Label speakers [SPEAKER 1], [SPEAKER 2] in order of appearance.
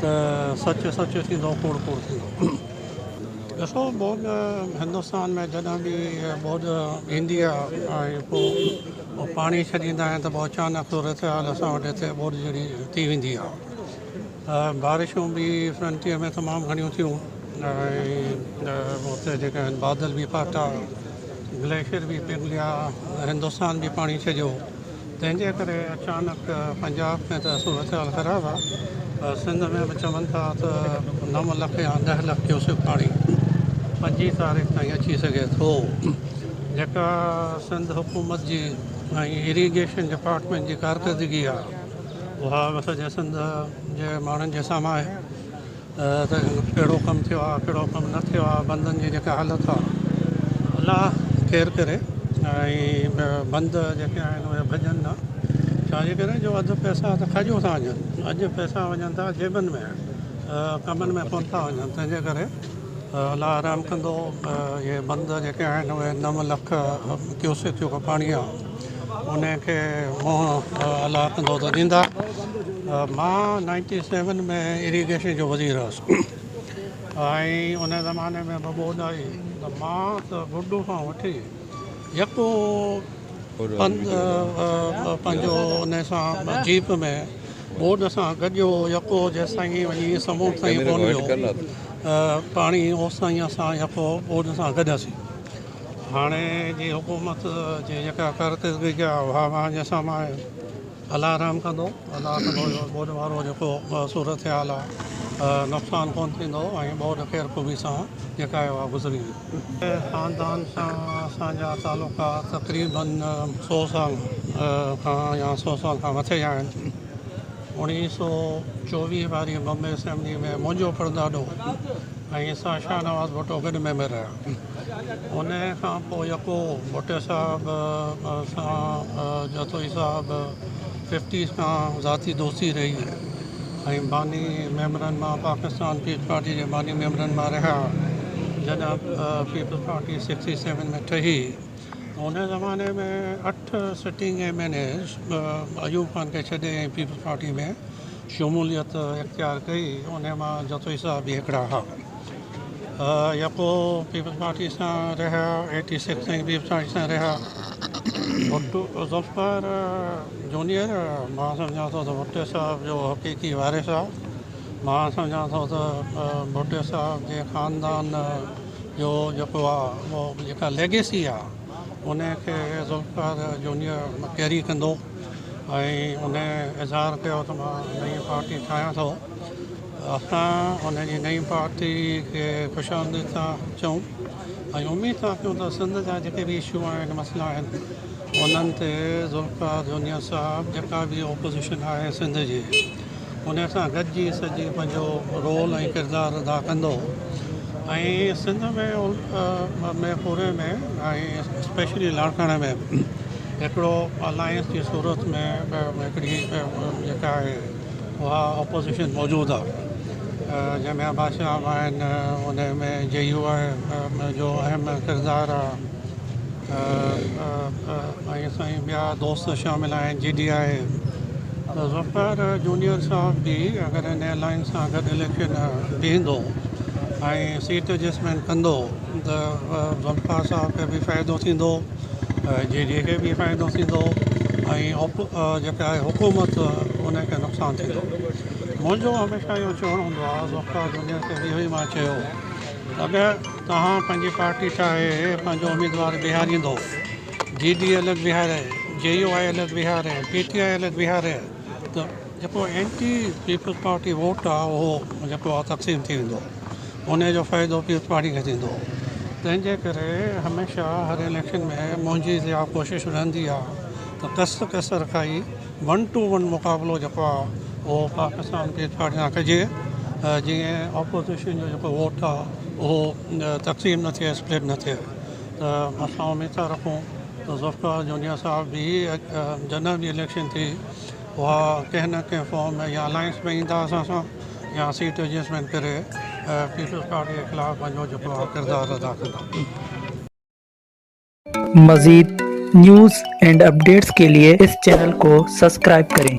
[SPEAKER 1] ته سچ سچ ٿيندو ڪوڙ ڪوڙ ٿيندو. ڏسو ٻوڏ هندستان ۾ جڏهن به ٻوڏ ايندي آ ۽ پو پاڻي ڇڏيندا آهن ته پو اچانڪ صورتحال اسان وٽ هتي ٻوڏ جهڙي ٿي ويندي آ ۽ بارشون به فرنٽيئر ۾ تمام گهڻيون ٿيون ۽ اتي جيڪي آهن بادل به ڦاٽا گليشر به پگهليا هندستان به پاڻي ڇڏيو تنهن جي ڪري اچانڪ پنجاب ۾ ته صورتحال خراب آ پر سنڌ ۾ به چون ٿا ته نو لک يا ڏهه لک ڪيوسڪ پاڻي پنجين تاريخ تائين اچي سگهي ٿو جيڪا سنڌ حڪومت جي ۽ اريگيشن ڊپارٽمينٽ جي ڪارڪردگي آ اها سڄي سنڌ جي ماڻهن جي سامهون آهي. ته ڪهڙو ڪم ٿيو آهي ڪهڙو ڪم نه ٿيو آهي بندن جي جيڪا حالت آهي الا خير ڪري ۽ بند جيڪي آهن اهي ڀڄن نه ڇاجي ڪري جو اڌ پئسا ته کڄيون ٿا وڃن اڄ پئسا وڃن ٿا جيبن ۾ ڪمن ۾ ڪون ٿا وڃن تنهنجي ڪري الا رحم ڪندو اهي بند جيڪي آهن اهي نو لک ڪيوسڪ جيڪو پاڻي آهي ان کي منهن الله ڪندو ته ڏيندا. مان نائنٽي سيون ۾ اريگيشن جو وزير هئس ۽ ان زماني ۾ به ٻوڏ آئي ته مان ته گڊو کان وٺي يڪو پنڌ پنهنجو ان سان جيپ ۾ ٻوڏ سان گڏيو يڪو جيستائين وڃي سمنڊ تائين ڪونه ويو پاڻي اوستائين اسان يڪو ٻوڏ سان گڏياسين. هاڻي جي حڪومت جي جيڪا ڪارڪردگي جا واهواهه جي سامان آهن الله رحم ڪندو الله ڪندو جو ٻوڏ وارو جيڪو صورتحال آ نقصان ڪون ٿيندو ۽ ٻوڏ خيرخوبي سان جيڪا آهي اها گذري ويندي. خاندان سان اسان جا تعلقات تقريباً سؤ سال کان يا سؤ سال کان مٿي آهن. اوڻيهه سؤ چوويهه واري بمبي اسيمبلي ۾ منهنجو پڙداڏو ۽ سان شاهنواز ڀٽو گڏ ميمبر رهيا. انهيء کان پوء يڪو ڀٽي صاحب سان جتوئي صاحب ففٽيز کان ذاتي دوستي رهي ۽ باني ميمبرن مان پاڪستان پيپلز پارٽي جي باني ميمبرن مان رهيا جڏهن پيپلز پارٽي سڪسٽي سيون ۾ ٺهي ان زماني ۾ اٺ sitting M N As Ayub Khan کي ڇڏي ۽ پيپلز پارٽي ۾ شموليت اختيار ڪئي انهيء مان جتوئي صاحب به هڪڙا هئا يا ڪو پيپلز پارٽي سان رهيا ايٽي سڪس تائين پيپلز پارٽي سان رهيا ڀٽو ذوالفقار جونيئر مان سمجهان ٿو ته ڀٽو صاحب جو حقيقي وارث آهي مان سمجهان ٿو ته ڀٽو صاحب جي خاندان جو جيڪو آهي اهو جيڪا ليگيسي آهي ان کي ذوالفقار جونيئر ڪيري ڪندو ۽ ان اظهار ڪيو ته مان نئين پارٽي ٺاهيان ٿو اسان انهن جي نئين پارٽي کي خوش آمديد ٿا چئون ۽ اميد ٿا ڪيون ته سنڌ جا جيڪي به اشو آهن مسئلا آهن انهن تي ذوالفقار جونيئر صاحب جيڪا به اپوزيشن آهي سنڌ جي ان سان گڏجي سڄي پنهنجو رول ۽ ڪردار ادا ڪندو ۽ سنڌ ۾ ۾ پوري ۾ اسپيشلي لاڙڪاڻي ۾ هڪڙو الائنس جي صورت ۾ هڪڙي جيڪا آهي اها اپوزيشن موجود آ جنهن ۾ عباس شاهه به آهن ان ۾ جي يو آء جو اهم ڪردار آ ۽ سائين ٻيا دوست شامل آهن G D A Zulfiqar junior صاحب به اگر ان الائنس سان گڏ اليڪشن بيهندو ۽ سيٽ ايڊجسٽمينٽ ڪندو ته ذوالفقار صاحب کي به فائدو ٿيندو جي جيڪي به فائدو ٿيندو ۽ جيڪا آهي حڪومت ان کي نقصان ٿيندو منهنجو هميشه اهو چوڻ هوندو آهي ڊاڪٽر جونيئر کي به اهو ئي ما چيو اگر توهان پنهنجي پارٽي چاهي پنهنجو اميدوار بيهاريندو جي ڊي ايل ايل بيهاري جي يو آء ايل ايل بيهاري پي ٽي آء ايل ايل بيهاري ته جيڪو اينٽي پيپلز پارٽي ووٽ آ اهو جيڪو آ تقسيم ٿي ويندو انهي جو فائدو پيپلز پارٽي کي ٿيندو تنهن جي ڪري هميشه هر اليڪشن ۾ منهنجي اها ڪوشش رهندي آ ته ڪس ڪس رکائي ون ٽو ون مقابلو جيڪو آ اهو پاڪستان پيپلز پارٽي سان ڪجي جيئن اپوزيشن جو جيڪو ووٽ آ اهو تقسيم نه ٿئي اسپلٽ نه ٿئي ته اسان اميد ٿا رکون ته ذوالفقار جونيا صاحب به جڏهن به اليڪشن ٿي اها ڪنهن نه ڪنهن فارم ۾ يا الائنس ۾ ايندا اسان سان يا سيٽ ايڊجسٽمينٽ ڪري پيپلز پارٽي جي خلاف پنهنجو جيڪو آهي ڪردار ادا ڪندا.
[SPEAKER 2] مزيد نيوز اينڊ اپڊيٽس ڪي ليي اس چينل ڪو سسڪرائب ڪرين.